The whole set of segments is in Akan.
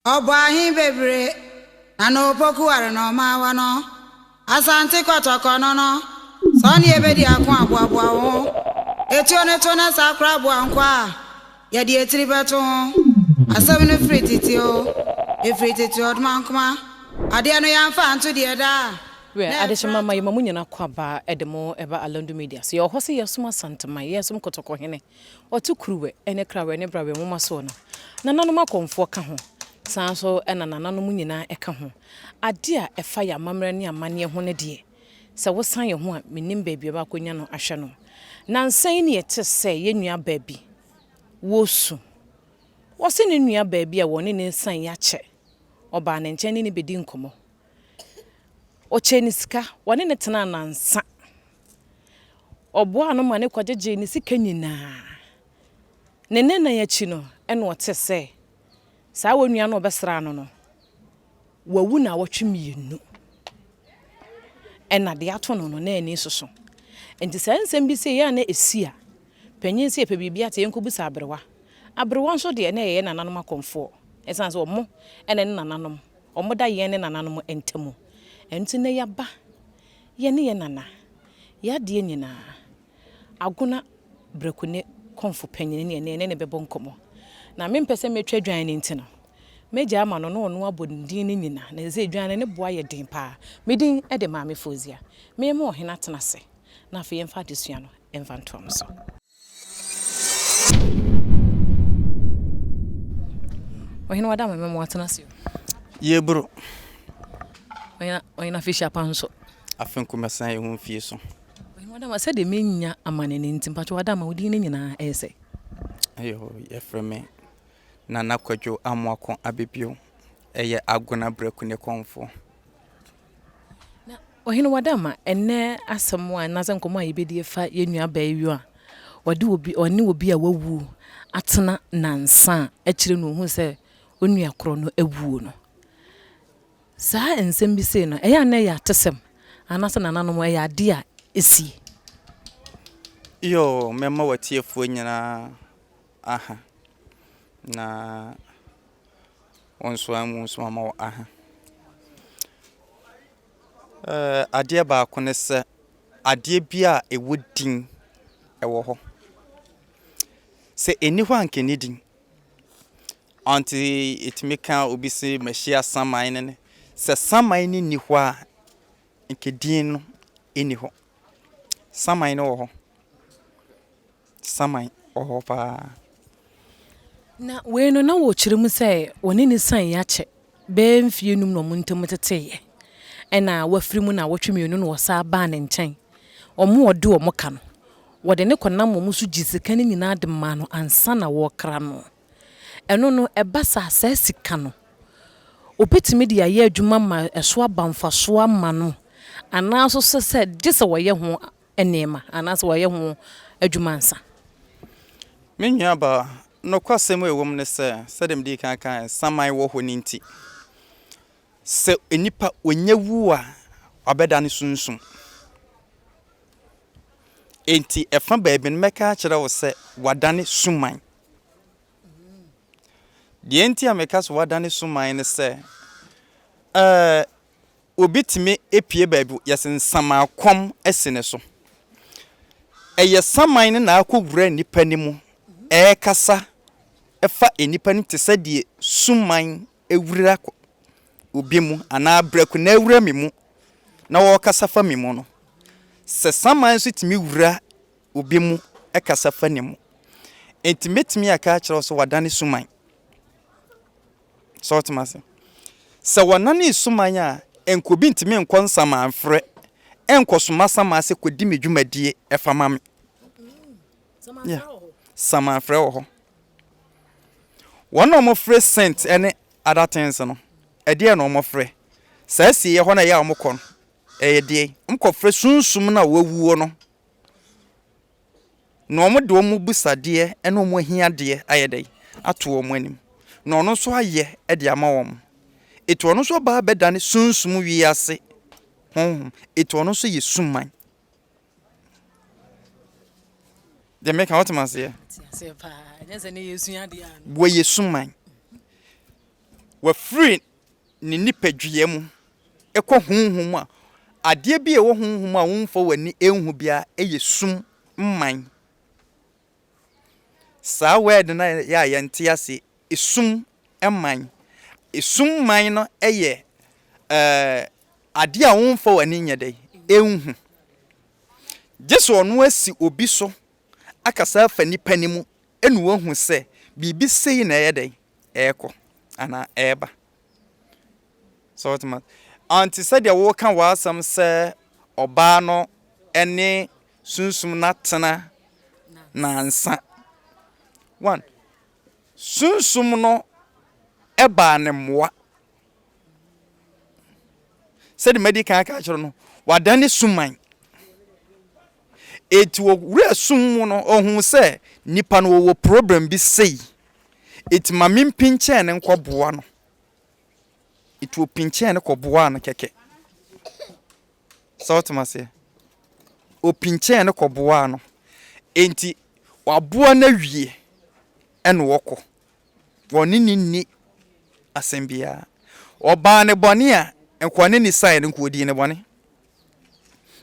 Ɔbɔ ahe bebree na na opoku ware na ɔmaa wɔ no Asante Kɔtɔkɔ no no. Sɛ ɔne yɛ bɛdi ako a, boaboa wo ho. Etuo no to na saa koraa boa nkoa a yɛde etiri bɛto ho. Asɛm no firi tete o, efiri tete ɔdmankoma. Adeɛ no yɛamfa anto deɛ ɛda a Wɛ, na adehyema ɛfra mma to. yɛma mo nyina kwabaa de mo ba Alandu Media so. Yɛwɔ hɔ se yɛsom Asante man, yɛsom Kɔtɔkɔ hene. Wɔto Kuruwɛ ne Krawɛ ne Brawɛ nwoma soɔ no, nananom akɔmfoɔ ka ho, saa ara nso na nananom nyinaa ka ho. Adeɛ a ɛfa yɛn amammerɛ ne amanneɛ ho no deɛ, sɛ wosan yɛn ho a, mennim baabi a wɔakɔnya no ahwɛ no. Nnansa yi na yɛte sɛ yɛn nuabaa bi wɔ su. Wɔse ne nuabaa bi a wɔne no nsan yi akyɛ, ɔbaa ne nkyɛn ne no bɛdii nkɔmmɔ. Ɔkyɛɛ no sika, wɔne no tenaa nnansa Ɔboaa no ma no kɔgyegyee ne sika nyinaa. Ne nnanan akyi no, ɛnna ɔte sɛ saa onua no a ɔbɛsraa no no, wawu nnawɔtwe mmienu. Ɛnna deɛ ato no no, na ani soso. Enti saa nsɛm bi sɛ yɛ a na ɛsi a, panyin sɛ yɛpɛ biribi ate yɛnkɔbisa aberewa. Aberewa nso deɛ, na yɛyɛ nananom akɔmfoɔ. Ɛsiane sɛ wɔn na ne nananom, wɔda yɛn ne nananom ntam. Ɛno nti na yɛaba Yɛne yɛn nana, y'adeɛ nyinaa. Agona Breku ne kɔmfo panyin ne ɛne ne no bɛbɔ nkɔmmɔ. Na mempɛ sɛ mɛtwa dwan no nti no, mɛgya ama no na ɔno abɔ ne din no nyinaa. Na ɛsɛ dwan no ne bo ayɛ den paa. Me din de Maame Fozia. Memma ɔhene atena ase. Na afei yɛmfa adesua no mfa ntoa no so. Ɔhene wada ma mɛma watena ase o. Yeboro. Ɔhene ɔhene afehyia pa nso. Afe nko mɛsan yɛ ho mfie so. Ɔhene wada ma sɛdeɛ menya amane no nti mpatwa wada ma odin no nyinaa ɛyɛ sɛ. Ɛyɛ hɔ yɛfrɛ me Nana Kwadwo Amoako Abɛbio ɛyɛ Agona Brɛku ne kɔmfoɔ. Na Ɔhene Wadama, ɛnnɛ asɛm a anaasɛ nkɔmmɔ a yɛbɛdi afa yɛn nua abaayewa a ɔde obi ɔne obi a wawu atena nnansa a akyire no ɔhuu sɛ ɔnua korɔ no awuo no. Saa nsɛm bi sei no, ɛyɛ a na ɛyɛ atesɛm anaasɛ nananom ɛyɛ adeɛ a ɛsie? Yoo, mɛma w'atiefoɔ nyinaa aha, na wɔnsoaa mu nso ama wɔ aha. Ɛɛ adeɛ baako ne sɛ, adeɛ bi a ɛwɔ din wɔ hɔ. Sɛ ɛnni hɔ a anka ɛnni din. Ɔnte ɛtumi ka obi se mahyia saman no ne. Sɛ saman no nni hɔ a, anka din no nni hɔ. Saman no wɔ hɔ. saman wɔ hɔ paa. Na wei no na wɔkyerɛ mu sɛ wɔne ne san akyɛ bɛyɛ mfeɛ num na wɔn ntam teteeɛ. Ɛna wafiri mu nnawɔtwe mmienu na wɔsan baa ne nkyɛn. Wɔn a wɔde wɔn ka no, wɔde no kɔnam wɔn so gyee sika no nyinaa de maa no ansa na wɔrekra no. Ɛno no, ɛba saa a, saa sika no, wɔbɛtumi de ayɛ adwuma ma ɛso aba mfasoɔ ama no anaa nso sɛ gye sɛ wɔyɛ ho nneɛma anaasɛ wɔyɛ ho adwuma ansa. Me nuabaa, nokwasɛm a ɛwom ne sɛ, sɛdeɛ medii kan kaeɛ no, saman wɔ hɔ no nti, sɛ onipa ɔnya wu a, wabɛdane sunsum. Enti ɛfa baabi no, mɛka akyerɛ wo sɛ wadane suman. Deɛ nti a meka sɛ wadane suman ne sɛ, ɛɛ obi tumi pue baabi yɛse nsaman kɔm asi ne so ɛyɛ saman no na akɔ wura nnipa no mu ɛkasa ɛfa nnipa no mu te sɛ deɛ suman awura obi mu anaa brakuna awura me mu na ɔkasa fa me mu no sɛ saman nso tumi wura obi mu ɛkasa fa ne mu nti mɛtumi aka akyerɛ wo sɛ wadane suman. So wote me ase? Sɛ wɔnane suman a, ɛnka obi ntumi nkɔ nsamanfrɛ nkɔsoma saman sɛ kɔdi me dwumadie ɛfa ma me. Yeah. Samanfrɛ wɔ hɔ. Wɔn na wɔfrɛ scent ne other things no, ɛdeɛ na wɔfrɛ. Saa asieɛ hɔ na ɛyɛ a wɔkɔ no, ɛyɛ deɛ wɔkɔfrɛ sunsum no a wɔawuo no. na wɔde wɔn abisadeɛ ne wɔn ahiadeɛ ayɛ dɛn, ato wɔn anim, na ɔno nso ayɛ de ama wɔn. Enti ɔno nso aba abɛdane sunsum wiase honhom. Enti ɔno nso yɛ suman. Deɛ meka wote maseɛ? Wɔyɛ suman. Wɔafiri ne nipadua mu kɔ honhom mu a, adeɛ bi a ɛwɔ honhom mu a womfa w'ani nhu biara yɛ sum mman. Saa word no a yɛ a yɛnte aseɛ, esum mman. Esum mman no yɛ ɛɛ adeɛ a womfa w'ani nyɛ dɛ nhu. Gye sɛ ɔno asi obi so akasa afa nipa no mu na wahu sɛ biribi sei na ɛyɛ dɛn, ɛrekɔ anaa ɛreba. So wote ma ante sɛdeɛ woka w'asɛm sɛ ɔbaa no ne sunsum no atena nansa. One, sunsum no baa ne mmoa. Sɛdeɛ madi kan aka akyerɛ no, wadane suman. Enti ɔwura sum mu no ɔhuu sɛ nipa no ɔwɔ problem bi sei, enti ma me mpinkyɛn no nkɔ boa no. Enti ɔpinkyɛn no kɔ boaa no kɛkɛ. Sɛ wote maseɛ? Ɔpinkyɛn no kɔ boaa no. Enti waboa no awie ɛna wɔkɔ. Wɔne ne nni asɛm biara. Ɔbaa ne bɔne a, nka ɔne ne saeɛ no nka ɔdii ne bɔne.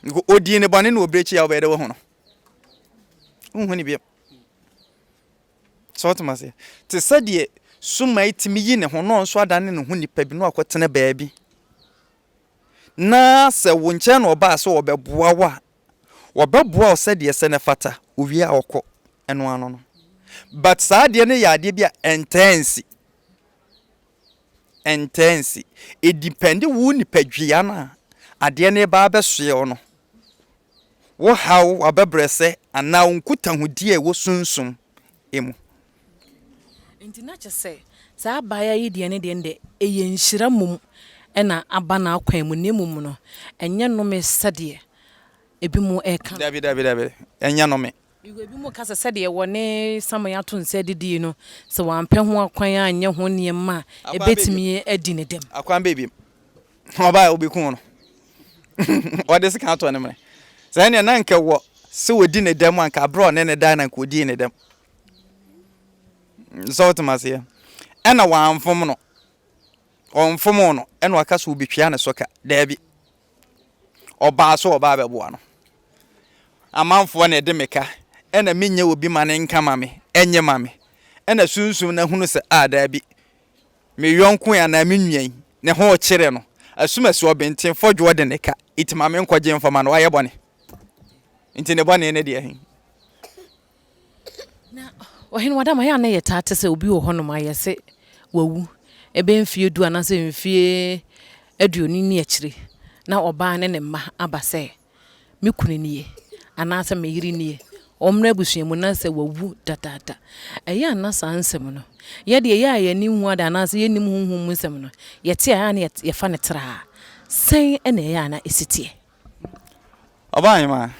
Nko odii ne bɔne na obere akyi a wobɛyɛ dɛ wahu no. Wonhu ne biam. Sɛ wotem aseɛ. Te sɛ deɛ sumae tumi yi ne ho na ɔnso adane ne ho nipa bi na wakɔtena baabi. Na sɛ wo nkyɛn na ɔbaa sɛ ɔbɛboa wo a, wɔbɛboa wo sɛdeɛ sɛ ne fata, owie a ɔkɔ. Ɛno ano no. But saa adeɛ no yɛ adeɛ bi a ɛntɛɛ nsi. ɛntaa nsi. It depend wo nipadua no a adeɛ no reba abɛsoɛ wo no, wo haw, w'abɛbrɛsɛ anaa wo nkutahodie a ɛwɔ sunsum mu. Nti na kyɛ sɛ saa abaayaa yi deɛ ne deɛ no deɛ ɛyɛ nhyira mmom na aba n'akwan mu na mmom no ɛnyɛ nnome sɛdeɛ ebinom reka no. Dabi, dabi, dabi, ɛnyɛ nnome. Yiw, ebinom ka sɛ sɛdeɛ wɔne Samuel ato nsa adidie no, sɛ wampɛ ho akwan anyɛ ho nneɛma a, ɛbɛtumi adi ne dɛm. Akwan bɛn bio? Ɔbaa a wɔbɛkum no, wɔde sekan atɔ ne mene. Saa nneɛ na anka wɔ sɛ wɔdi ne dɛm a, anka berɛ a ɔne ne dae no anka wɔdii ne dɛm. Sɛ wotem aseɛ? Ɛna wɔamfom no, wɔmfomoo no, ɛna waka sɛ wɔbɛtua ne so ka? Daabi. ɔbaa sɛ ɔbaa bɛboa no amanfoɔ na ɛde meka ɛna menyɛ obi ma ne nka ma me ɛnyɛ ma me ɛna sunsum na hunu sɛ a daabi me yɔnko anaa me nua yi ne ho kyerɛ no asumasi ɔbɛnten fɔdwoɔ de ne ka ɛti ma me nkɔgye mfama no wayɛ bɔne nti ne bɔne ne deɛ he Na ɔhene wɔ dɛ ma yɛ a na yɛ taa te sɛ obi wɔ hɔ nom a yɛ se wawu ɛbɛ mfie du anaa sɛ mfie aduonu ni akyire na ɔbaa ne ne mma aba sɛ me kunu nie anaa sɛ me yere nie ɔmmerɛ abusua mu na sɛ wawu dadaada ɛyɛ a na saa nsɛm no yɛ deɛ yɛ a yɛ ani nhu ada anaa sɛ yɛ nim honhom mu nsɛm no yɛ te a na yɛ fa ne traa sɛn ɛna ɛyɛ a na ɛsiteɛ. Ɔbaa hemaa.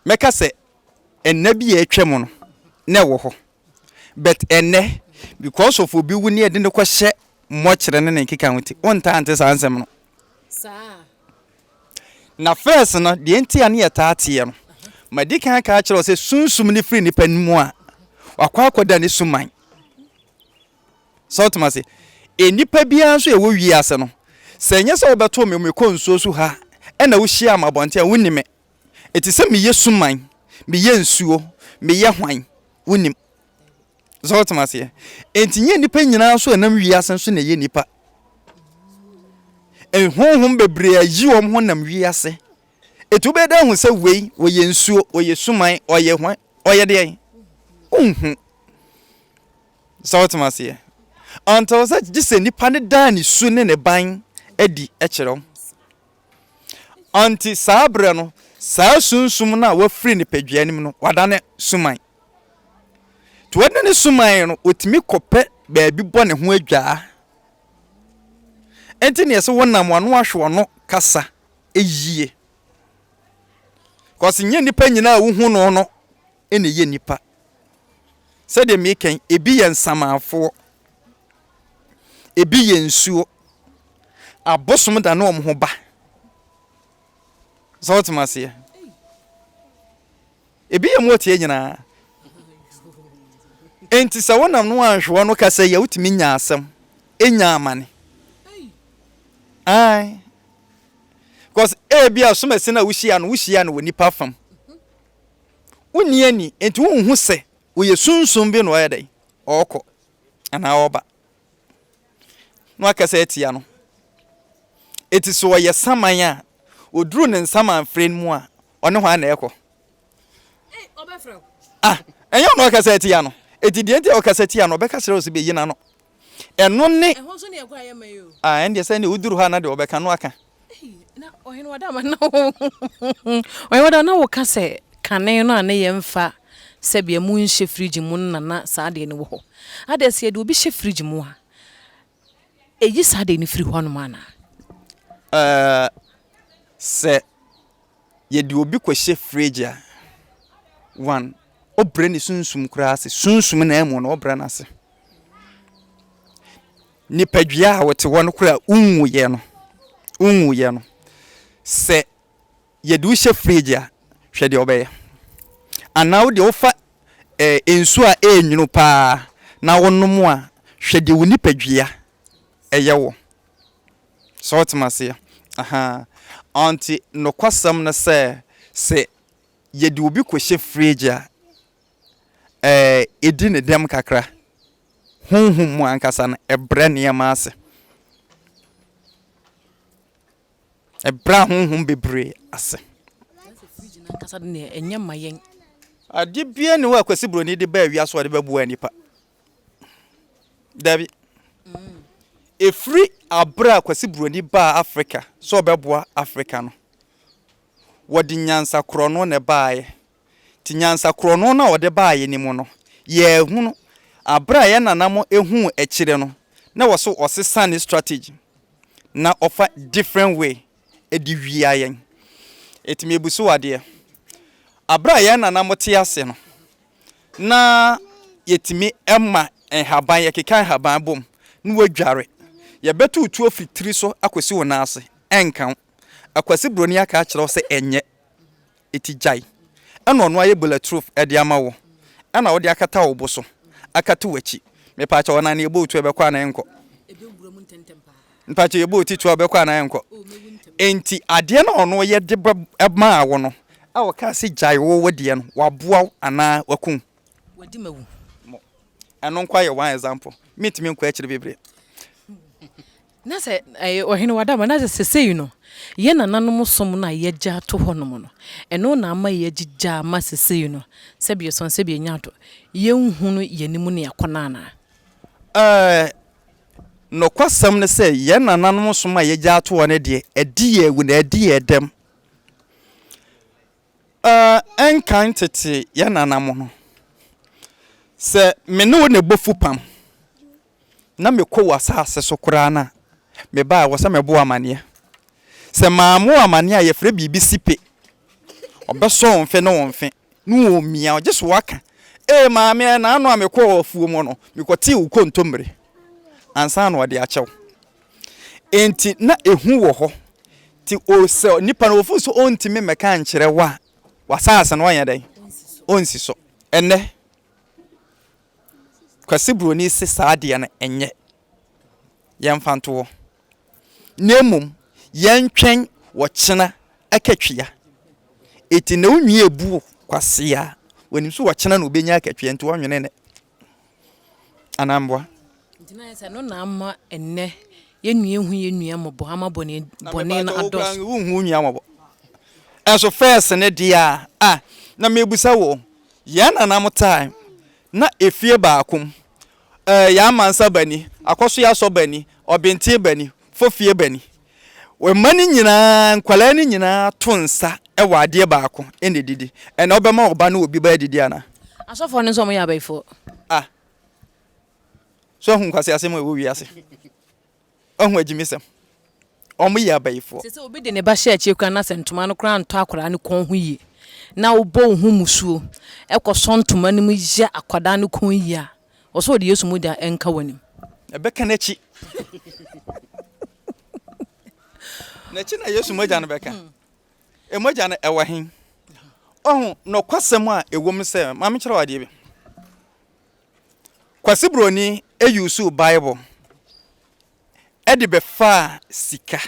mɛka sɛ nna bi a atwam no na ɛwɔ hɔ but ɛnnɛ because of obi wu ne yɛde no kɔhyɛ mmɔkyerɛ ne ne nkeka ho nti wontaa nte saa nsɛm no na first no deɛ nti a ne yɛtaa teɛ no madi kan aka akyerɛ wo sɛ sunsum no firi nnipa no mu a wakɔ akɔda ne suman So wote m'ase? Nnipa biara nso a ɛwɔ wiase no, sɛ ɛnyɛ sɛ wobɛto me mekɔ nsuo so ha na wohyiaa me abɔnten a, wonni me. Ɛte sɛ meyɛ suman, meyɛ nsuo, meyɛ hwan? Wonnim. So wote m'aseɛ? Enti nyɛ nnipa nyinaa nso a ɛnam wiase nso na ɛyɛ nnipa. Honhom bebree a yi wɔn ho nam wiase. Enti wobɛyɛ dɛ ahu sɛ wei ɔyɛ nsuo, ɔyɛ suman, ɔyɛ hwan, ɔyɛ deɛn? Wonhu. Sɛ wote m'aseɛ? Until sɛ gye sɛ nipa no daa ne su ne ne ban adi kyerɛ wo. Ɔnti saa berɛ no, saa sunsum no a wafiri ne padua no mu no, wadane suman. Nti wadane suman no, ɔtumi kɔpɛ baabi bɔ ne ho adwaa. Nti neɛ sɛ wonam wano ahwe wano kasa yie. Kɔse nyɛ nipa nyinaa a wohu no no na ɛyɛ nnipa. Sɛdeɛ meeka yi, ebi yɛ nsamanfoɔ, ebi yɛ nsuo. Abosom da ne wɔn ho ba. Sɛ wote aseɛ? Ebi yɛ mmoteɛ nyinaa. Enti sɛ wonam no anhwewa no kasa yi a, wotumi nya asɛm, nya amane. Ae. Because ebi a somasi no a wohyia no, wohyia no wɔ nipa fam. Wonni ani, enti wonhu sɛ wɔyɛ sunsum bi na wɔyɛ dɛn? Wɔrekɔ anaa wɔreba. Na wakasa atia no. Enti sɛ ɔyɛ saman a, ɔduru ne nsaman frɛ no mu a, ɔne hwan na ɛrekɔ? Ah, ɛnyɛ ɔno ɔkasa atia no. Enti deɛ nti a ɔkasa tia no, ɔbɛka kyerɛ wo sɛ bɛyi n'ano. Ɛno ne. Ɛho nso neɛ ɛkɔ a yɛmma yi o. Ah ɛndeɛ sɛ neɛ woduru hɔ a na deɛ wɔbɛka no aka. Ei na Ɔhene Wadama na wo Ɔhene Wadama na woka sɛ kane no a ne yɛmfa sɛbea mu nhyɛ fridge mu no na na saa adeɛ no wɔ hɔ. Adɛn sɛ yɛde obi hyɛ fridge mu a ɛyi saa adeɛ no firi hɔnom anaa? Eh sɛ Yɛde obi kɔhyɛ fridge a, one, wobrɛ ne sunsum koraa ase, sunsum no amu no wobrɛ no ase. Nipadua a wote hɔ no koraa wonwuiɛ no, wonwuiɛ no, sɛ yɛde wo hyɛ fridge a, hwɛ deɛ wobɛyɛ. Anaa wo deɛ wofa ɛɛ eh, nsuo a ɛyɛ nwunu paa na wonom a, hwɛ deɛ wo nipadua ɛyɛ wo. So wote m'aseɛ? Ahaa. Ɔnti nokwasɛm ne sɛ, sɛ yɛde obi kɔhyɛ fridge a, ɛɛ, ɛdi ne dɛm kakra. Honhom mu ankasa no, ɛbrɛ nneɛma ase. Ɛbrɛ ahonhom bebree ase. Sɛ fridge no ankasa de neɛ, ɛnyɛ mma yɛn. Adeɛ biara nni hɔ a Kwasi Broni de baa wiase hɔ a ɔde bɛboa nnipa. Dabi. Ɛfiri aberɛ a Kwasi Buroni baa Afrika sɛ ɔbɛboa Afrika no, wɔde nyansa korɔno na ɛbaeɛ. Nti nyansa korɔno no a wɔde baeɛ no mu no, yɛahunu aberɛ a yɛn nana mo huu akyire no, na ɛwɔ sɛ ɔsesa ne strategy na ɔfa different way de wia yɛn. Enti mebuso wo adeɛ, Aberɛ a yɛn nana mo te ase no, na yɛtumi ma nhaban, yɛkeka nhaban bom na wɔadware. Yɛbɛto wo tuo firi tiri so akɔsi wo nan ase, ɛnka wo. Akwasi Buroni aka akyerɛ wo sɛ ɛnyɛ. eti gyae, ɛna ɔno ayɛ bulletproof de ama wo, ɛna wode akata wo bo so, akata w'akyi. Mepaakyɛw, ɔnam no yɛbɔɔ tu a ɔbɛkɔ anaa ɛnkɔ? Mpaakyɛw, yɛbɔɔ ti tu a ɔbɛkɔ anaa ɛnkɔ? Enti adeɛ no a ɔno yɛ de bɛ maa wo no, a ɔkaa sɛ gyae wo wo deɛ no, waboa wo anaa waku wo? Wadi ma wu. Mo, ɛno nko ara yɛ one example, mentumi nkɔ akyiri bebree. Na sɛ, ɛɛ, Ɔhene, w'ada ama, na sɛ sesei no, yɛn nananom som no a yɛagya ato hɔnom no, ɛno na ama yɛagyigya ama sesei no, sɛbe yɛsuan, sɛbe yɛnya ado, yɛnhunu yɛn anim nea ɛkɔ no anaa? Ɛɛ, nokwasɛm ne sɛ, yɛn nananom som a yɛagya ato hɔ no deɛ, adi yɛn awu, na adi yɛn dɛm. Ɛɛ, nkan tete yɛn nananom no. Sɛ me ne wo na ɛbɔ fupam na mekɔ w'asaase so koraa no a, me ba a, ɛwɔ sɛ mebɔ wo amanneɛ. Sɛ mammɔ wo amanneɛ a, yɛfrɛ biribi sipe. Ɔbɛsɔ wo mfe ne wo mfe na ɔremmia wo, gye sɛ woaka, Ee, maame, ɛnna ano a mekɔɔ afuom no, mekɔtee wo kontommire, ansa na ɔde akyɛ wo. Enti na ehu wɔ hɔ. Nti o, sɛ nipa no ofi so ontumi mmɛka ankyerɛ wo a, w'asaase no ɔnyɛ dɛn? Onsi so. Ɛnnɛ, Kwasi Buroni se saa adeɛ no nyɛ. Yɛmfa nto hɔ. Na mmom, yɛntwɛn ɔkyena akatua. Enti na wo nwi ebu Kwasi a, onim so ɔkyena na obenya akatua, nti ɔnwene nnɛ. anaa mmoa. Nti na ayɛ sɛ ɛno na ama ɛnnɛ yɛn nua nhu yɛn nua mmɔbɔ ama bɔne bɔne no adɔɔso. Na wonhu wo nua mmɔbɔ. Ɛnso first no deɛ a ah na mebisa wo yɛn nana mo time na efie baako mu eh yɛama nsa bani, akɔsoɛ asɔ bani, ɔbentee bani, fo fie ba ni. Wɔ mma no nyinaa, nkwadaa no nyinaa to nsa wɔ adeɛ baako na ɛdidi. Ɛnna wobɛma wo ba ne obi ba adidi anaa? Asɔfoɔ no nso wɔyɛ abayifoɔ. Ah. So ahu nkwaseasɛm a ɛwɔ wiase? Ahu agyimisɛm? Wɔyɛ abayifoɔ. Sɛ sɛ obi de ne ba hyɛ akyire koraa na sɛ ntoma no koraa ntɔ akwadaa no kɔn ho yie na wobɔ wo ho mmusuo kɔsɔ ntoma no mu yɛ akwadaa no kɔn yie a, Ɔsɛ ɔde Yesu mogya nka w'anim. Ɛbɛka n'akyi. N'akyi na Yesu mogya no bɛka. Mogya no ɛwɔ he? Ɔho nɔkwasɛm a ɛwɔ mu sɛ, ma menkyerɛ wadeɛ bi. Kwasi Broni ɛyusu Bible ɛde bɛfaa sika.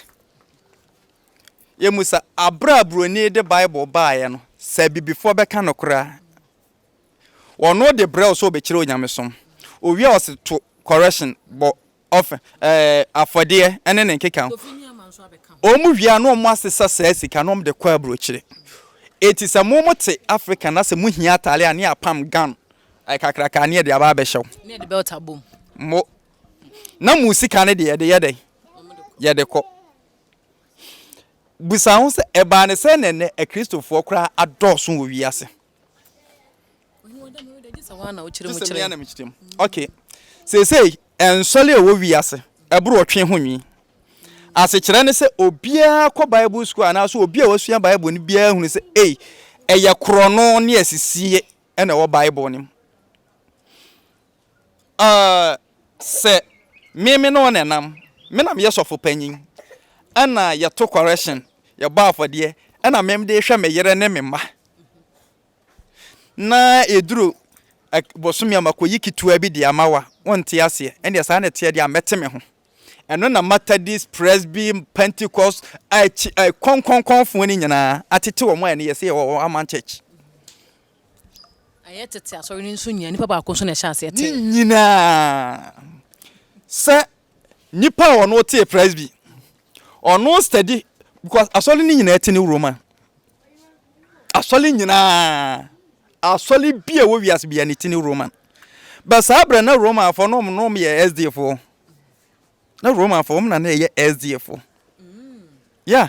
Yɛmu sɛ aberɛ a Broni de Bible baeɛ no, sɛ abibifoɔ bɛka nokorɛ a, Ɔno de brɛw sɛ ɔbɛkyerɛ onyamesom. Owie a ɔse to correction, bɔ off, eh, afɔdeɛ ne ne nkeka ho. Wɔn wie a na wɔn asesa saa sika na wɔn de kɔ abrokyire. Eti sɛ mo mo te Africa na sɛ mo hia ataare a ne apam gown eh, kakraka ne yɛde aba abɛhyɛ wo. Ne yɛde belt abɔ mu. Mo. Na mo sika no deɛ yɛde yɛ dɛn? Yɛde kɔ. Busa ho sɛ ɛbaa ne sɛ na ɛnɛ akristofoɔ koraa adɔɔso wɔ wiase. okay seesei nsɔre a ɛwɔ wiase ɛboro ɔtwe ho nwi asekyerɛ ne sɛ obiara kɔ bible school anaasɛ obi a wasua bible no biara hunu sɛ ei ɛyɛ korɔno ne asisie ɛna ɛwɔ bible no mu Ɛɛ, sɛ me me ne wo na ɛnam, me na meyɛ sɔfo panyin, ɛna yɛto correction, yɛbɔ afɔdeɛ, ɛna me de hwɛ me yere ne me mma. Na ɛduru bosome a makɔyi ketewa bi de ama wo a, wonte aseɛ. Ɛnneɛ saa na ɛteɛ deɛ a mɛte me ho. Ɛno na Methodist, Presby, Pentecost, akyi, kɔnkɔnkɔnfoɔ no nyinaa atete wɔn a ɛne yɛ sɛ yɛwɔ wɔn aman church. Ɛyɛ tete asɔre no nso nyinaa, nipa baako nso na ɛhyɛ aseɛ tee. Ne nyinaa sɛ nipa a ɔno tee presby, ɔno steady because asɔre no nyinaa ti ne Roman. Asɔre nyinaa, asɔre bi a ɛwɔ wiase bi a ne ti ne Roman. Bɛ saa berɛ na Roman fo no ɔmo no ɔmo yɛ SDA fo. Na Roman fo ɔmo na na ɛyɛ SDA fo. Yeah.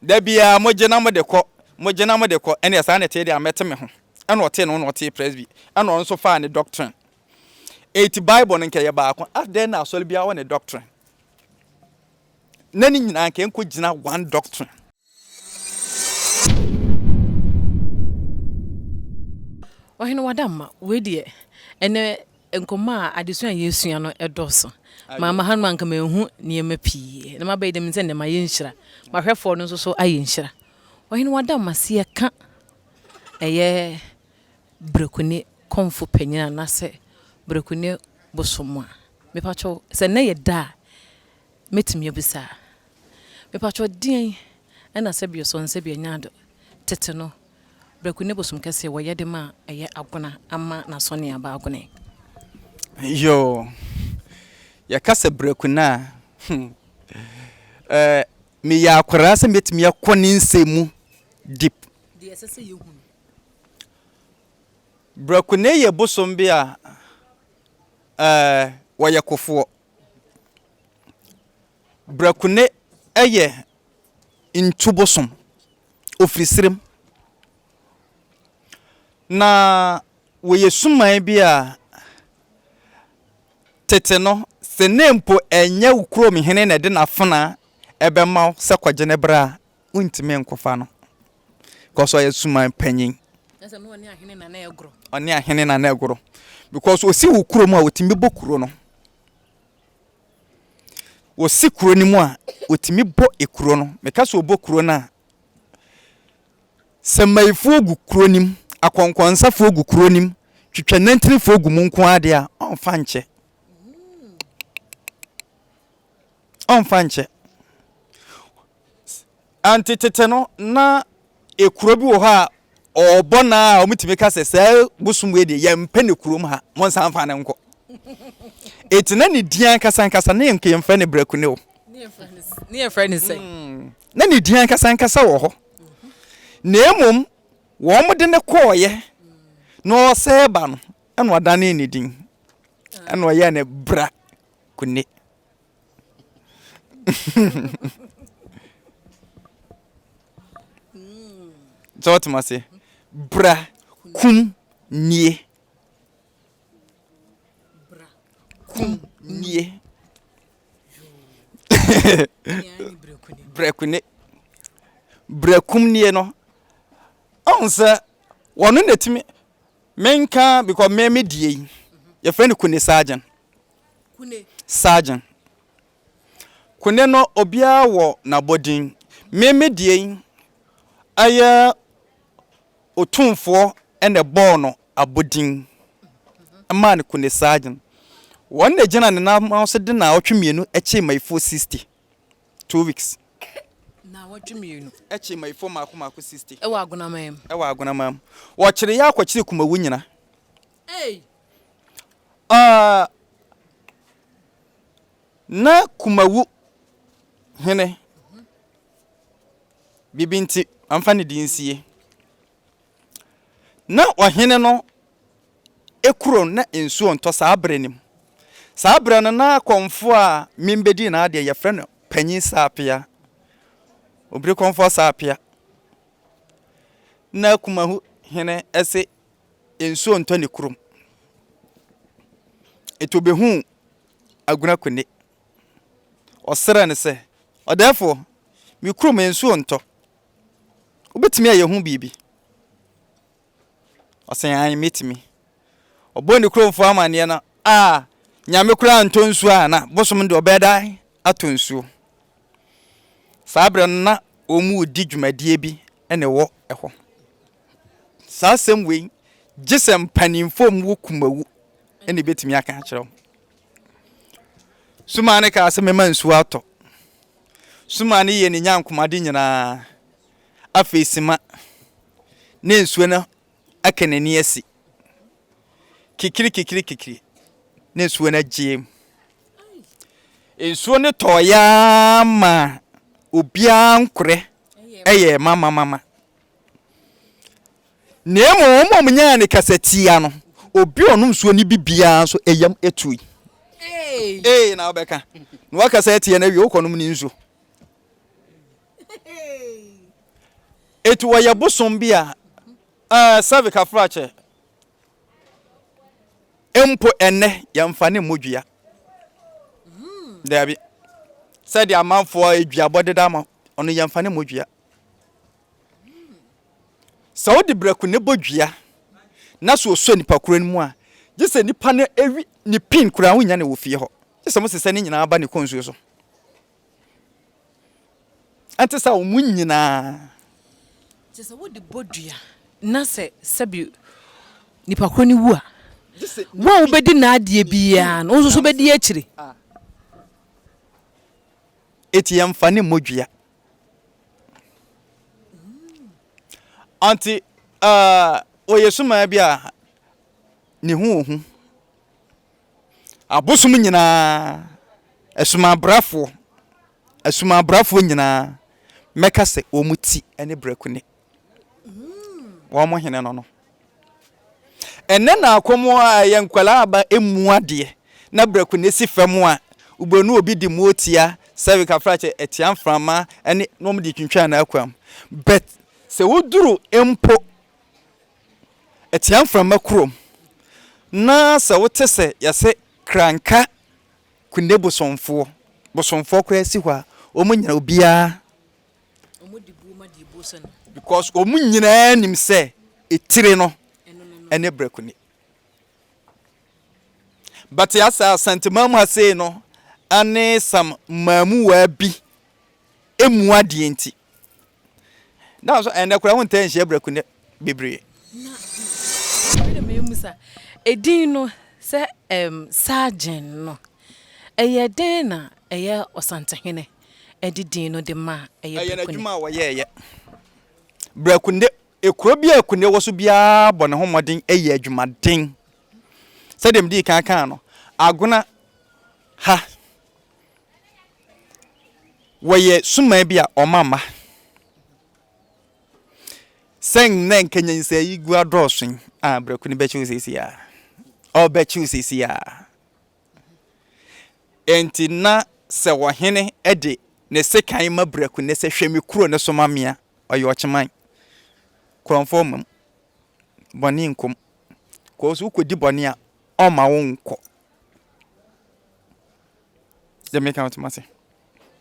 Da biara mogye na mode kɔ, mogye na mode kɔ, ɛnneɛ saa na ɛteɛ deɛ a mɛte me ho. Ɛna ɔtee ne ho na ɔtee Presby, ɛna ɔno nso faa ne doctrine. Eti Bible no nka ɛyɛ baako, adɛn na asɔre biara wɔ ne doctrine? Na ne nyinaa nka ɛnkɔgyina one doctrine. Ɔhene w'adamma, wei deɛ ɛnɛ Nkɔmmɔ a adesua a yɛresua no dɔɔso. Mamma ha no anka manhu nneɛma pii na mabɛyɛ dɛm sɛ nnɛ mayɛ nhyira. M'ahwɛfoɔ no nso so ayɛ nhyira. Ɔhene wada mo aseɛ ka ɛyɛ Brekuni kɔmfo panyin anaasɛ Brekuni bosom a. Mepakyɛw sɛ nnɛ yɛ da a mɛtumi abisa a. Mepakyɛw deɛn na sɛbi ɔsɔnsɛbi anyaado tete no Breku ne bosom kɛseɛ wɔ yɛde ma a ɛyɛ agona ama nasɔne aba agone. Yoo yɛka sɛ breku no a hmm eh meyɛ akwaraa sɛ mɛtumi akɔ ne nsɛm mu deep. Deɛ ɛsɛ sɛ yɛhu no. Breku no yɛ bosom bi a eh wɔyɛ kofoɔ. Brakune yɛ ntu bosom. Ɔfiri serem. Na wɔyɛ suman bi a tete no, sɛ ne mpo ɛnyɛ wo kurom hene na ɛde n'afenaa bɛma wo sɛ kɔgye ne bra a, wontumi nkɔfa no because ɔyɛ suman panyin. Ɛsɛ no ɔne ahene na na ɛgoro. Ɔne ahene na na ɛgoro because ɔsi wo kurom a ɔtumi bɔ kuro no. Wɔsi kuro no mu a, wɔtumi bɔ kuro no. Meka sɛ wɔbɔ kuro no a, sɛ mmayifoɔ gu kuro no mu, akɔnkɔnsafoɔ gu kuro no mu, twitwa nantinefoɔ gu mu nko ara deɛ a, ɔmfa nkyɛ. Ɔmfa nkyɛ. Ante tete no, na ekuro bi wɔ hɔ a ɔɔbɔ no a ɔmutumi ka sɛ saa bosom wei deɛ yɛmpɛ no kurom ha, monsan fa no nkɔ. Eti na ne din ankasa ankasa ne yɛnka yɛmfrɛ no Brakune o. Ne yɛfrɛ no sɛ. Na ne din ankasa ankasa wɔ hɔ. Na mmom wɔn de no kɔɔeɛ na ɔsɛɛ ba no ɛna ɔdanee ne din ɛna ɔyɛɛ no Brakune. sɛ wɔtem ase bra kum nie kum nie brɛkune brɛkum nie no ɔhu sɛ wɔno na ɛtumi menka because me medie yi yɛfrɛ no kune sergeant Kune. Sergeant. Kune no obiara wɔ n'abɔdin. Me me deɛ yi ɛyɛ Otumfoɔ na ɛbɔɔ no abɔdin maa no Kune Sergeant. Wɔn na ɛgyina ne nan ma so de naawɔtwe mmienu kyee Mayifoɔ 60. Two weeks. Naawɔtwe mmienu. Kyee Mayifoɔ mmaako mmaako 60. Wɔ Agonamam. Wɔ Agonamam. Wɔkyere yɛ akɔkyere Kumawu nyina. Aa na Kumawu hene biribi nti amfa ne din nsie. Na ɔhene no kuro no na nsuo ntɔ saa berɛ no mu. Saa berɛ no na kɔmfoɔ a Mim bɛdii n'adeɛ yɛfrɛ no Panyin Saapea, Obiri Kɔmfoɔ Saapea. Na Kumawu hene se nsuo ntɔ ne kurom. Enti ɔbɛhuu Agunakwene. Ɔsrɛɛ no sɛ, Ɔdɛɛfoɔ, me kurom nsuo ntɔ. Wobɛtumi ayɛ ho biribi? Ɔsee, Aane, mɛtumi. Ɔbɔɔ ne kuromfoɔ amanneɛ no, Aa, Nyame koraa ntɔ nsuo a na bosom deɛ ɔbɛyɛ dɛn atɔ nsuo? Saa berɛ no na wɔredi dwumadie bi na ɛwɔ hɔ. Saa asɛm wei, gye sɛ mpanimfoɔ a wɔwɔ kumawu na ɛbɛtumi aka akyerɛ wo. Sumaa no kaa sɛ mɛma nsuo atɔ. Sumaa no yɛ ne nyankomade nyinaa. Afei sima ne nsuo no aka n'ani asi. Kikiri kikiri kikiri ne nsuo no agyeem. Nsuo no tɔɔyɛ ara ma obiara nkorɛ ɛyɛ mamamama. Na mmom wɔn a wɔnyaa ne kasatia no, obi a ɔnom nsuo no bi biara nso yam tui. Ee na wobɛka na wakasa atia no awie wokɔnom ne nsuo. Eti wɔyɛ bosom bi a ɛɛ sɛbi kafrakyɛ mpo ɛnɛ yɛmfa ne mmɔ dua. Daabi sɛdeɛ amanfoɔ aduabɔ deda ma ɔno yɛmfa ne mmɔ dua. Sɛ wode brɛko na ɛbɔ dua na so ɔsɔ nipa koro no mu a, gye sɛ nipa no awi ne pin koraa wonnya no wɔ fie hɔ. Gye sɛ mosesɛ ne nyinaa ba ne kɔn nsuo so. Ɛnte saa a wɔn nyinaa. Gye sɛ wode bɔ dua na sɛ sɛbi nipa koro no wu a, wo a wobɛdi n'adeɛ biara no, wo nso so bɛdi akyire. Eti yɛmfa ne mmɔ dua. Ɔnntse aah, ɔyɛ sumaa bi a ne ho wɔ hu. Abosom nyina, esumaa brɛfoɔ, esumaa brɛfoɔ nyina mɛka sɛ wɔn ti ne brɛko ni. wɔn mo hene no no ɛnɛ na akɔm a ɛyɛ nkwadaa aba emu adeɛ na brɛko na esi fam a wobɛnu obi de mu otia sɛbi kafrakyɛ ɛtia mframa ɛne na wɔn de twintwan na akwam bɛt sɛ woduru mpo ɛtia mframa kurom na sɛ wote sɛ yɛsɛ kranka kunde bosomfoɔ bosomfoɔ koraa si hɔ a wɔn nyina obiara Because wɔn nyinaa nim sɛ etire no ne brɛko ni. But ya sɛ Asanteman mu ha sei no ane some mmaamuwaa bi emu adeɛ nti. Na so ɛnɛ koraa wontaa nhyia brɛko ne bebree. Edin no sɛ Sargen no ɛyɛ dɛn na ɛyɛ Ɔsantehene? de din no de ma a, ɛyɛ Ɛyɛ Brekune. n'adwuma a ɔyɛɛ yɛ. Brekune, kuro bi a Kune wɔ so biara bɔ ne ho mmɔden yɛ adwumaden. Sɛdeɛ medii kan kaa no, Agona ha, wɔyɛ suman bi a wɔma mma. Sɛ nnɛ nka nyansayi gu adɔɔso yi, ah, Brekune bɛkye wo seesei ara. Ɔbɛkye wo seesei ara. Enti na sɛ ɔhene de ne sekan ma Braku ne sɛ, Hwɛ me kuro no so ma me a, ɔyɛ ɔkyeman. Korɔmfoɔ mmam. Bɔne nkom. Kɔɔ so wokɔdi bɔne a, ɔmma wo nkɔ. Deɛ meka no toma se.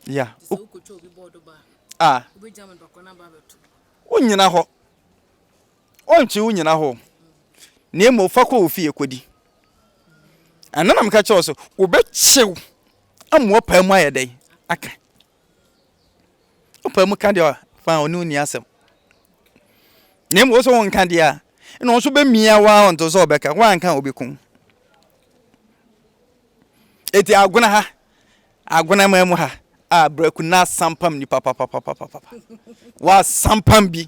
Ya. A. Wonyina hɔ. Ɔnnkyi wo nnyina hɔ, na mmom fa kɔ wo fie kɔdi. Ɛno na meka kyerɛ wo sɛ, Wobɛkyew ama wapaa mu ayɛ dɛn? Aka. Wopaa mu ka deɛ fa a, ɔne wo nni asɛm. Na mmom wo sɛ wonka deɛ a, ɛna ɔno nso bɛmia wo ara ɔnte sɛ ɔbɛka, woanka a ɔbɛkum. Enti agona ha, Agonaman mu ha a Braku na asampam nnipa papapapapa. Wasampam bi.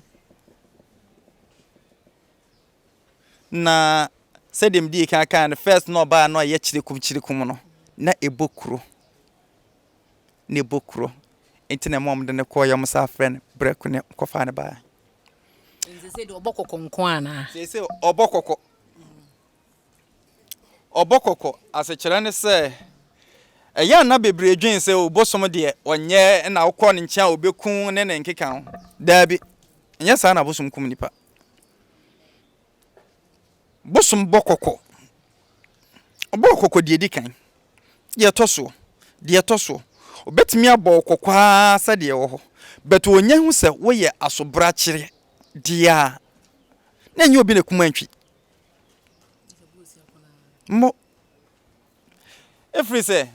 Na sɛdeɛ mede kan kaa no first na ɔbaa no a ɛyɛ kyerekum kyerekum no na ɛbɔ kuro. Na ɛbɔ kuro. Nti na ɛma wɔn de no kɔɔ yɛn saa frɛ no Braku ne kɔfaa no baa. Sese de ɔbɔ kɔkɔ nko anaa? Sese ɔbɔ kɔkɔ. Ɔbɔ kɔkɔ asekyerɛ ne sɛ, ɛyɛ a na bebree dwen sɛ o bosom deɛ ɔnyɛ na wokɔ ne nkyɛn a obekum ne ne nkeka ho. Daabi, ɛnyɛ saa na bosom kum nipa. Bosom bɔ kɔkɔ. Ɔbɔ kɔkɔ deɛ edi kan, deɛ ɛtɔ soɔ, deɛ ɛtɔ soɔ. Obetumi abɔ wo kɔkɔ ara sɛ deɛ ɛwɔ hɔ, but onya hu sɛ woyɛ asobrakyere deɛ a, na ɛnyɛ obi na ekum antwi. Mo. Ɛfiri sɛ,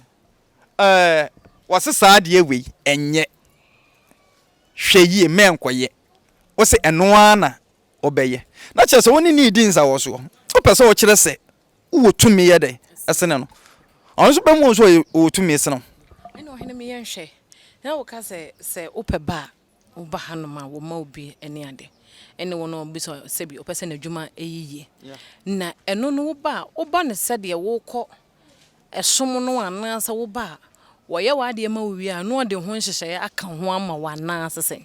ɛɛ, wɔse saa adeɛ wei, ɛnyɛ. Hwɛ yie, mmɛ nkɔyɛ. Wose ɛno ara na wobɛyɛ. Na kyerɛ sɛ, wo ne no redi nsawɔsoɔ. Wopɛ sɛ wokyerɛ sɛ wowɔ tumi yɛ dɛn sene no. Ɔno nso bɛhu wo sɛ ɔwɔ tumi sene wo. Ɛnna ɔhene me yɛ nhwɛ. Na woka sɛ, Sɛ wopɛ ba a. Woba hanom a, wɔma wo bi ne ade. Ɛne wɔn a wɔbisa sɛbi wɔpɛ sɛ n'adwuma yɛ yie. Na ɛno no, woba a, woba no sɛdeɛ worekɔ ɛsom no anaasɛ woba a, wɔyɛ w'adeɛ ma wo wie a, na wɔde ho nhyehyɛeɛ aka ho ama wo anaasɛ sɛn?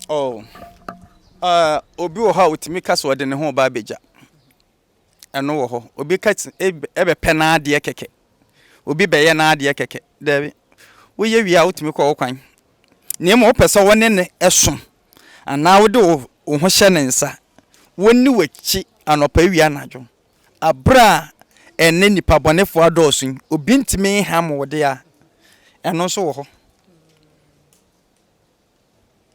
Oh, ah, obi wɔ hɔ a ɔtumi ka sɛ ɔde ne ho reba abɛgya. ɛno wɔ hɔ. Obi ka se eb ɛbɛpɛ n'adeɛ kɛkɛ. Obi bɛyɛ n'adeɛ kɛkɛ. Daabi. Woyɛ wie a, wotumi kɔ wo kwan. Na mmom wopɛ sɛ wo ne no so anaa wode wo wo ho hyɛ ne nsa, ɔnni w'akyi anɔpa, awia, anadwo. Aberɛ a ɛnnɛ nnipa bɔnefoɔ adɔɔso yi, obi ntumi nham wo deɛ a, ɛno nso wɔ hɔ.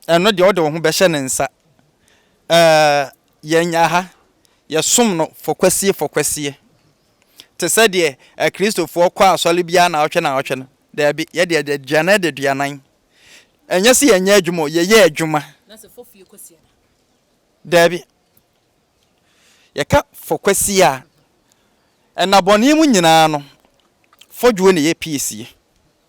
ɛno deɛ wode wo ho bɛhyɛ ne nsa. Ɛɛ yɛn nya ha yɛsom no fɔkwasie fɔkwasie te sɛ deɛ akristofoɔ kɔ asɔre biara na ɔtwe na ɔtwe no daabi yɛ deɛ deɛ duanan de duanan ɛnyɛ sɛ yɛnyɛ adwuma o yɛyɛ adwuma daabi yɛka fɔkwasie a ɛna bɔne mu nyinaa no fɔdwoɔ na ɛyɛ piesie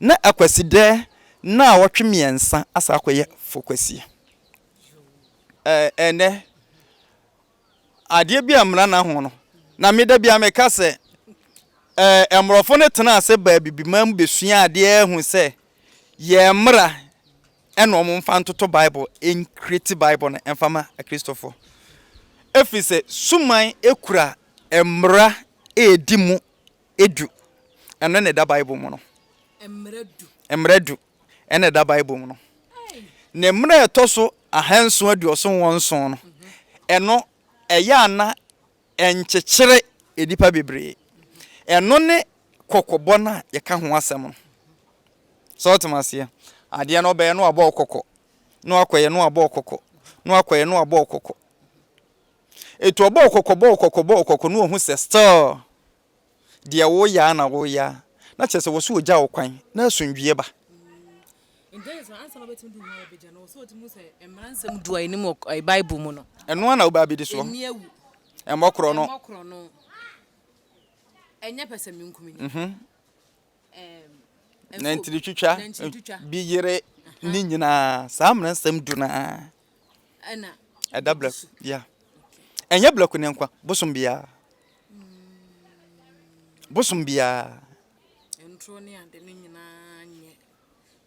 na akwasidɛ naawɔtwe mmiɛnsa asa akɔyɛ fokwasia. Ɛɛ ɛnɛ adeɛ bi a mmara na ho no na meda bi a meka sɛ ɛɛ mmorɔfo no tena ase baa bibiman mu besua adeɛ ehu sɛ yɛ mmara ɛna wɔn mfa ntoto bible enkiriti bible no ɛnfa ma akristofo efi sɛ suman ekura mmara edi mu du. Ɛno na ɛda Bible mu no. Mmara du na ɛda Bible mu no. Ne mmara a ɛtɔ so ahanson aduɔson wɔ nson no, ɛno ɛyɛ a na ɛnkyekyere nnipa bebree. Ɛno ne kɔkɔbɔ no a yɛka ho asɛm no. Sɛ wote me aseɛ? Adeɛ no ɔbɛyɛ na wabɔ wo kɔkɔ, na wakɔyɛ na wabɔ wo kɔkɔ, na wakɔyɛ na wabɔ wo kɔkɔ. Etu ɔbɔɔ kɔkɔ bɔɔ kɔkɔ bɔɔ kɔkɔ na ohu sɛ still deɛ woreyɛ ara na woreyɛ ara na kyerɛ sɛ wɔ sɛ ɔgya wo kwan na asomdwoeɛ ba. Ɛno ara na wobɛ abɛdi soɔ. Ɛmmɔ korɔno. Nantiri twitwa bi yere ne nyinaa saa mmaransɛm du no ara. Ɛda blɛ ya. Ɛnyɛ blɛ ko ne nkwa. Bosom bia. Bosom bia. Ntro ne ade ne nyinaa nyɛ.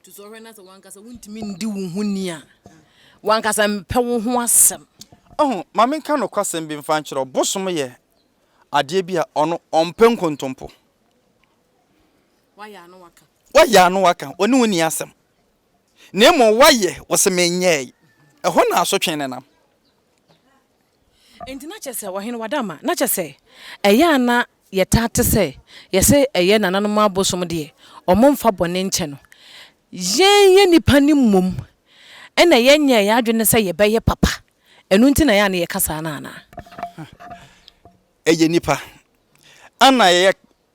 To so hwɛ na sɛ wankasa wontimi ndi wo ho ni a. Wankasa mpɛ wo ho asɛm. Oho, ma me nka nokwasɛm bi mfa nkyerɛ wo. Bosom yɛ adeɛ bi a ɔno ɔmpɛ nkontompo. Wayɛ ano waka. Wayɛ ano waka. Ɔne wo ni asɛm. na mmom woayɛ, wose menyɛe. Ɛhɔ na asotwe no nam. Enti na kyerɛ sɛ ɔhene wada ama. Na kyerɛ sɛ, ɛyɛ a na yɛtaa te sɛ yɛse ɛyɛ nananom abosom deɛ, wɔn mfa bɔne nkyɛ no. Yɛn yɛn nnipa no mmom na yɛnyɛɛ yɛn adwene sɛ yɛbɛyɛ papa, ɛno nti na ɛyɛ a na yɛka saa no anaa? Ɛyɛ nnipa. Ana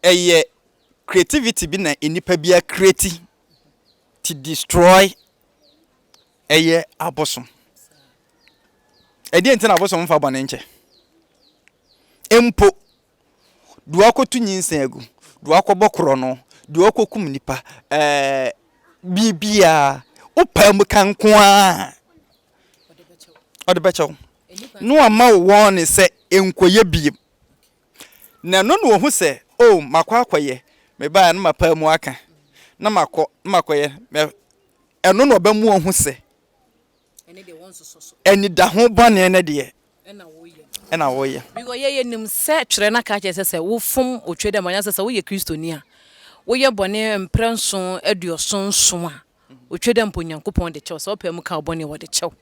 ɛyɛ creativity bi na nnipa bi a create to destroy ɛyɛ abosom ɛdeɛ nti na abosom mfa bɔne nkyɛ mpo deɛ wakɔto nyinsɛn agu deɛ wakɔbɔ korɔ no deɛ wakɔkum nipa ɛɛ biribiara wopaa mu ka nko ara ɔde bɛkyɛw na wama wo wɔn ne sɛ nkɔyɛ biem Na ɛno na wɔhu sɛ, O, makɔ akɔyɛ, mebaeɛ a na mapaa mu aka, na makɔ, na makɔyɛ, na ɛno na ɔbɛma wɔahu sɛ anidaho bɔne no deɛ na wɔyɛ. Because yɛ yɛnim sɛ twerɛ no aka akyerɛ sɛ sɛ wofom otwe dɛm anaasɛ sɛ woyɛ Kristoni a woyɛ bɔne mprɛ nson aduɔson nson a, otwe dɛm mpo Onyankopɔn de kyɛ wo, sɛ wopaa mu kaa wo bɔne a wɔde kyɛ wo.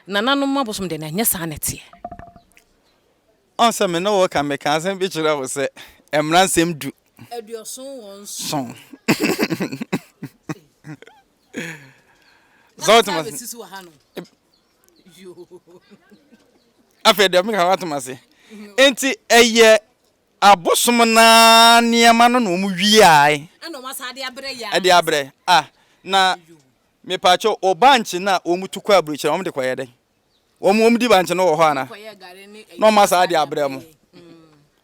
Nananom abosom deɛ na ɛnyɛ saa na ɛteɛ. Ɔn sɛ me ne wo reka, meka asɛm bi kyerɛ wo sɛ, Mmara nsɛm du. Aduɔson wɔ nson. Sɛ wote ma se. Afei deɛ meka woate ma se. Nti ɛyɛ abosom na nneɛma no na wɔn wiae. Ɛna wɔn asa de abrɛ yɛ. Ɛde abrɛ ah na mepaakyɛ ɔba nkye na wɔn tu kɔ aburokyerɛ wɔn de kɔ yɛ dɛ. Wɔn wɔn di bankye no wɔ hɔ ana? Na ɔma saa de abrɛ mo.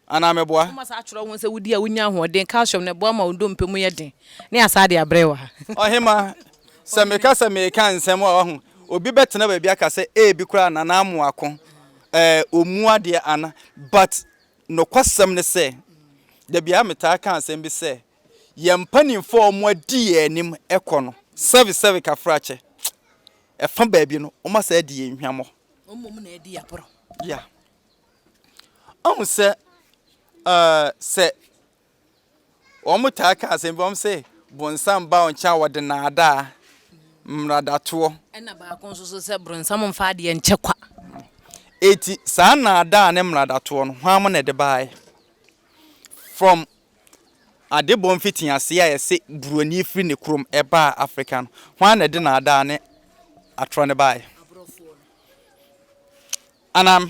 Anaa meboa? Ɔma saa kyerɛ wɔn sɛ wodi a wonya ahoɔden, calcium, na ɛboa ma wɔn dompe mu yɛ den. Ne asaa de abrɛ wɔ ha. Ɔhema, sɛ meka sɛ meka nsɛm a wahu, obi bɛtena baabi aka sɛ ebi koraa Nana Amoako eh, ɔmu adeɛ ana? But nokwasɛm ne sɛ, da biara metaa ka asɛm bi sɛ, yɛn mpanimfoɔ a wɔadi yɛn anim kɔ no, sɛbe sɛbe kafrakyɛ, ɛfa baabi no, wɔasan adi yɛn hwammɔ. Mmom na adi aporɔ. Ya. Ɔhu sɛ, uh, sɛ wɔtaa ka asɛm bi, wɔn sɛ, bonsam ba wɔn kyɛn a wɔde naadaa mmaradatoɔ. Ɛna baako nso so sɛ, bronsam mfa adeɛ nkyɛ kwa. Eti saa naadaa ne mmaradatoɔ no, hwan mo na ɛde baeɛ? From Adebɔ mfitiase a ɛse Buroni firi ne kurom baa Afrika no, hwan na ɛde nnaadaa ne atorɔ no baeɛ? Anaa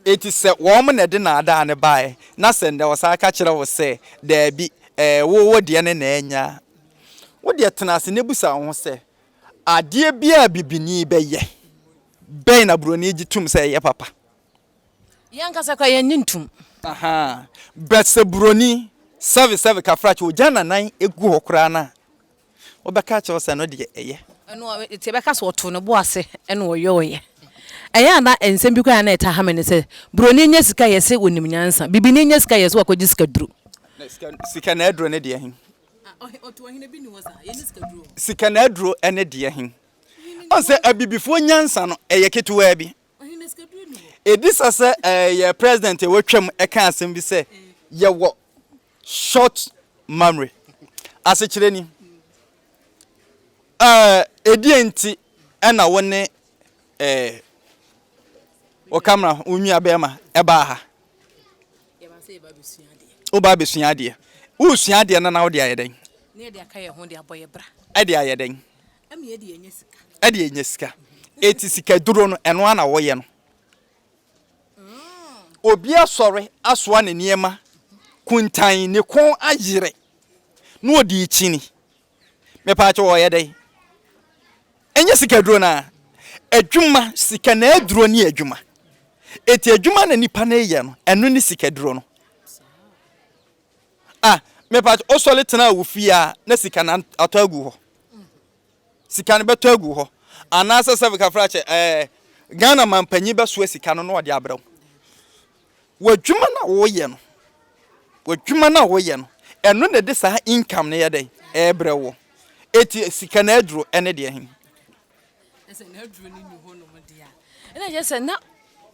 enti sɛ wɔn na ɛde nnaadaa no baeɛ na sɛ nnɛ wɔsan ka kyerɛ wo sɛ daabi, ɛɛ, wo, wo deɛ ne na anya a, wo deɛ tena ase na bisa wo ho sɛ, Adeɛ biara a Bibini bɛyɛ, bɛn na Buroni gye tom sɛ ɛyɛ papa? Yɛn ankasa koraa yɛnnye ntom. Ahaa but sɛ buroni sɛve sɛve kafrakye ogya nanan gu hɔ koraa no a, wobɛka akyerɛ wo sɛ ɛno deɛ ɛyɛ. Ɛno a nti yɛbɛka sɛ ɔtoo ne bo ase na ɔyɔeɛ. Ɛyɛ a na nsɛm bi koraa a na ɛtaa ha me ne sɛ, buroni nya sika yɛse ɔnim nyansa, bibini nya sika yɛse wakɔgye sikaduro. Na sika sika na aduro ne deɛ he? Ɔtoo ɔhene bi nni hɔ saa, yɛnni sikaduro wɔ. Sika na aduro ne deɛ he? Ɔhu sɛ abibifoɔ nyansa no ɛyɛ ketewaa bi. Ɛdi sa sɛ yɛ president a watwam ɛka asɛm bi sɛ yɛwɔ short memory. Asekyerɛ ni, ɛdeɛ nti ɛna wo ne wo kamera wo nua bɛrima ɛbaa ha? Wobaa bɛsua adeɛ. Wosua adeɛ no na wode ayɛ dɛn? Ɛde ayɛ dɛn? Ɛma yɛde yɛ nya sika. Ɛde yɛ nya sika. Eti sika duro no ɛno ara na wɔyɛ no. Obi asɔre asoa ne nneɛma kuntan ne kɔn ayere na ɔde rekyini. Mepaakyɛ wɔ ɔyɛ dɛn? Ɛnyɛ sika duro no a. Adwuma, sika na aduro ne adwuma. Eti adwuma na nipa no reyɛ no ɛno ne sika duro no. Ah mepatw wosɔre tena wo fie aa na sika no atɔ agu hɔ sika no bɛtɔ agu hɔ anaasɛ sɛ kafrakyɛ ɛɛ Ghana mampanyin bɛsoa sika no na ɔde abrɛ wo w'adwuma no a woyɛ no w'adwuma no a woyɛ no ɛno na ɛde saa income no yɛ dɛn ɛbrɛ wo eti sika no aduro ɛne deɛ he. sɛ n'aduro no nni hɔnom deɛ a, ɛna ɛkyerɛ sɛ na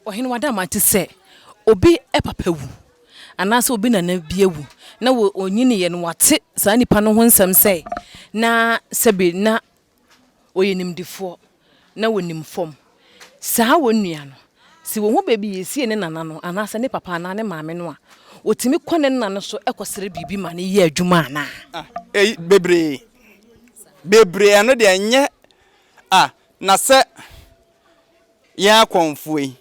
ɔhene wada ama te sɛ obi papa wu anaasɛ obi nana bi awu na ɔnyiniiɛ no wate saa nipa no ho nsɛm sɛ na sɛbi na ɔyɛ nimdefoɔ na ɔnim fam saa wɔn nua no. Sɛ ohu baabi yesie ne nana no anaasɛ ne papa anaa ne maame no a, otumi kɔ ne nna no so kɔsrɛ biribi ma no yɛ adwuma anaa? Ah, ei, bebree. Bebree, ɛno deɛ ɛnyɛ. Ah, na sɛ yɛn akɔmfoɔ yi,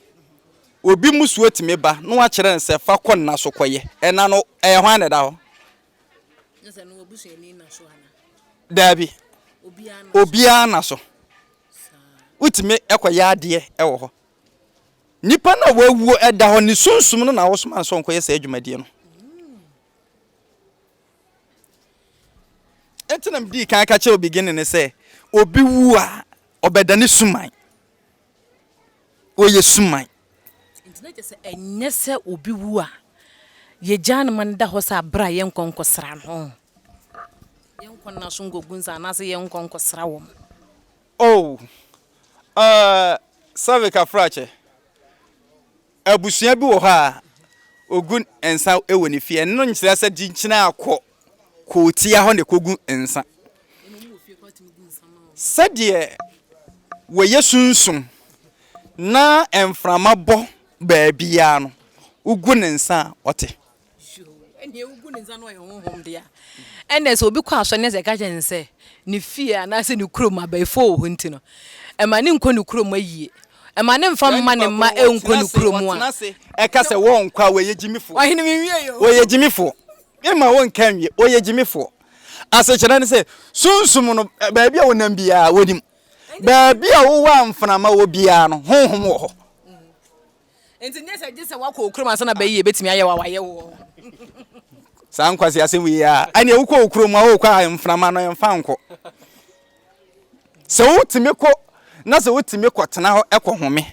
obi mmusuo tumi ba na wakyerɛ no sɛ fa kɔ nna so kɔyɛ, ɛna no, ɛyɛ hwan na ɛda hɔ? Daabi, obiara nna so. wotumi kɔyɛ adeɛ wɔ hɔ. Nipa no a wawuo da hɔ, ne sunsum no na wɔsoma no sɛ ɔnkɔyɛ saa adwumadie no. Eti na mdii kan ka kyerɛ obi gene ne sɛ, obi wu a, ɔbɛdane suman. wɔyɛ suman. Enti na kyerɛ sɛ ɛnyɛ sɛ obi wu a, yegyaa no ma no da hɔ saa bere a yɛnkɔ nkɔsra no. Yɛnkɔ nna so nkɔgu nsa anaasɛ yɛnkɔ nkɔsra wɔn. Oh, uh, Savik Afrakyɛ, abusua bi wɔ hɔ a ogu nsa wɔ ne fie. Ɛno nkyerɛ sɛ gyenkyene akɔ. kɔ tia hɔ na ɛkɔgu nsa. Sɛdeɛ wɔyɛ sunsum na mframa bɔ baabiara no, wogu ne nsa a, ɔte. Ɛnneɛ wogu ne nsa na ɔyɛ honhom dea. Ɛnneɛ sɛ obi kɔ asɔre na sɛ ɛka kyerɛ no sɛ ne fie anaasɛ ne kurom abayifoɔ wɔ hɔ nti no, ɛma no nkɔ ne kurom ayie. Ɛma no mfa mma ne mma nkɔ ne kurom a. Ɔtena ase, ɛka sɛ wɔnkɔ a, wɔyɛ gyimifoɔ. Ɔhene menwie yɛ o. Wɔyɛ gyimifoɔ. Memma wonka nwie, wɔyɛ gyimifoɔ. Asekyerɛ ne sɛ, Sunsum no, baabi a wonam biara, wɔnim. Baabi a wowɔ a mframa wɔ biara no, Honhom wɔ hɔ. Enti nyɛ sɛ gye sɛ woakɔ wo kurom ansa na bɛyi yɛbɛtumi ayɛ wo a wɔayɛ wo wɔ hɔ. Saa nkwaseasɛm wei a, ɛneɛ wokɔ wo kurom a wokɔ a mframa no ɛmfa nkɔ. Sɛ wotumi kɔ na sɛ wotumi kɔtena hɔ kɔhome,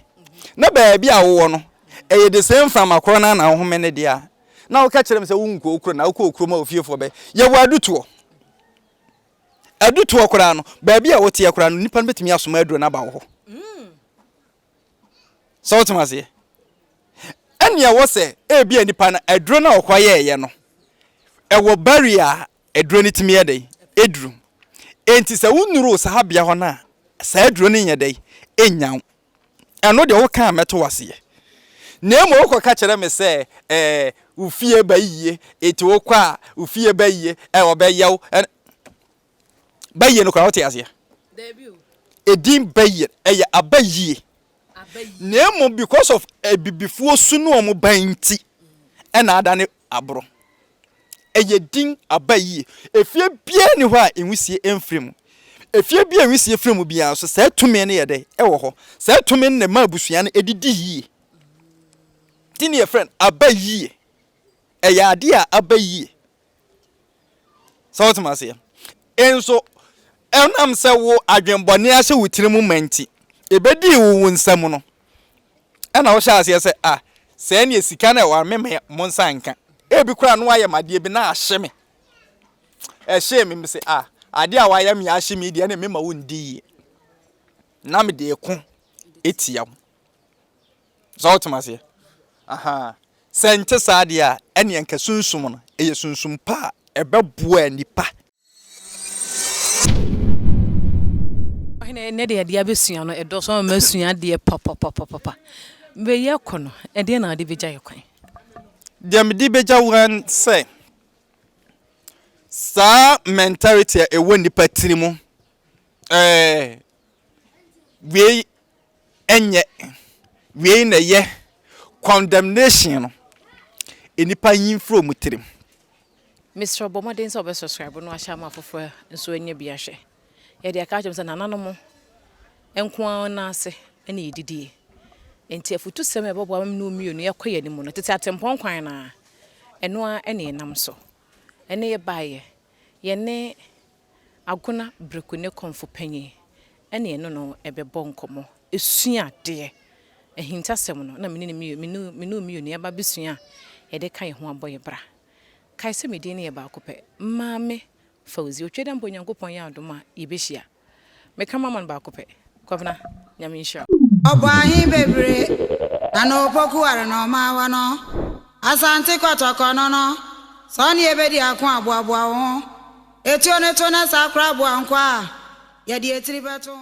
na baabi a wowɔ no, ɛyɛ de sɛ mframa korɔ no ara na wohome ne deɛ a, na woka kyerɛ me sɛ wonkɔ wo kuro na wokɔ okurom a ofiefoɔ bɛ yɛ wɔ adutoɔ adutoɔ koraa no baabi a woteɛ koraa no nipa no bɛtumi asoma aduro no aba wo hɔ sɛ wotem aseɛ ɛnea wɔ sɛ ebi a nipa no aduro no a ɔkɔ yɛɛyɛ no ɛwɔ barrier a aduro no tumi yɛ dɛn ɛduru enti sɛ wonuru saa bea hɔ no a saa aduro no nyɛ dɛn ɛnnya wo ɛno deɛ woka a mɛto wo aseɛ, na mmom wokɔka kyerɛ me sɛ ɛɛ wo fie ba yie, enti wokɔ a wo fie ba yie, ɛɛ ɔbɛyɛ wo ɛn ba yie no koraa wote aseɛ? Daabi o. Edin ba yie no ɛyɛ aba yie, na mmom because of abibifoɔ su no wɔn ba nti ɛna adane aboro. Ɛyɛ din aba yie. Efie biara nni hɔ a nwisie mfiri mu. Efie bi a nwisie firi mu biara nso, saa tumi no yɛ dɛ? Ɛwɔ hɔ. Saa tumi no na ɛma abusua no didi yie. Nti na yɛfrɛ no aba yie. Ɛyɛ adeɛ a aba yie. Sɛ wote m'aseɛ? Nso ɛnam sɛ wo adwenbɔne ahyɛ wo tiri mu ma nti, ɛbɛdii wo wo nsa mu no, ɛna wohyɛ aseɛ sɛ, ah, sɛ ɛneɛ sika no ɛwɔ a me me mo nsa nka. Ebi koraa no wayɛ me adeɛ bi na ahye me. Ɛhyee me me sɛ, ah, adeɛ a wayɛ me ahye me deɛ ɛne me ma wo ndi yie. Na me de ɛko ɛtia wo. So wote m'aseɛ? Ahaa. Sɛ ɛnte saa deɛ a, ɛnneɛ nka sunsum no yɛ sunsum pa a ɛbɛboa nnipa. Ɔhene, ɛnnɛ deɛ adeɛ a bɛsua no, ɛdɔɔso ama masua adeɛ papapapapa. Berɛ yi akɔ no, ɛdeɛn na wode bɛgya yɛ kwan? Deɛ mede bɛgya wo ara ne sɛ, saa mentality a ɛwɔ nnipa tiri mu, ɛɛ. wei nyɛ, wei na ɛyɛ. Condemnation no, nnipa nyi mfiri wɔn tirim. Mesrɛ wo bɔ mmɔden sɛ wobɛ subscribe na wahyɛ ama afoforɔ nso anya bi ahwɛ. Yɛde aka akyerɛ mo sɛ nananom nko ara nan ase na yɛdidie. Enti afutusɛm a ɛbɛboa me ne wo mmienu yɛkɔ yɛn anim no, tete atempɔn kwan no ara, ɛno ara na yɛnam so. Ɛnnɛ yɛbaeɛ, yɛne Agona Breku ne Kɔmfo Panyin ne ɛno no bɛbɔ nkɔmmɔ, asua adeɛ. Ahintasɛm no, na me ne me me ne Omiyo nuaba bɛsua a yɛde ka yɛn ho abɔ yɛn bra. Kae sɛ me din no yɛ baako pɛ, Maame Fauzi. Otwadeɛ mpo Nyankopɔn yɛ adom a yɛbɛhyia. Meka mama no baako pɛ. Kwabena, Nyame nhyira wo. Ɔbɔ ahe bebree na no pokuware no ɔma wɔ no Asante kɔtɔkɔ no no sɛ ɔne yɛbɛdi ako a boaboa wo ho Etuo no to na saa koraa boa nkoa a yɛde etiri bɛto ho.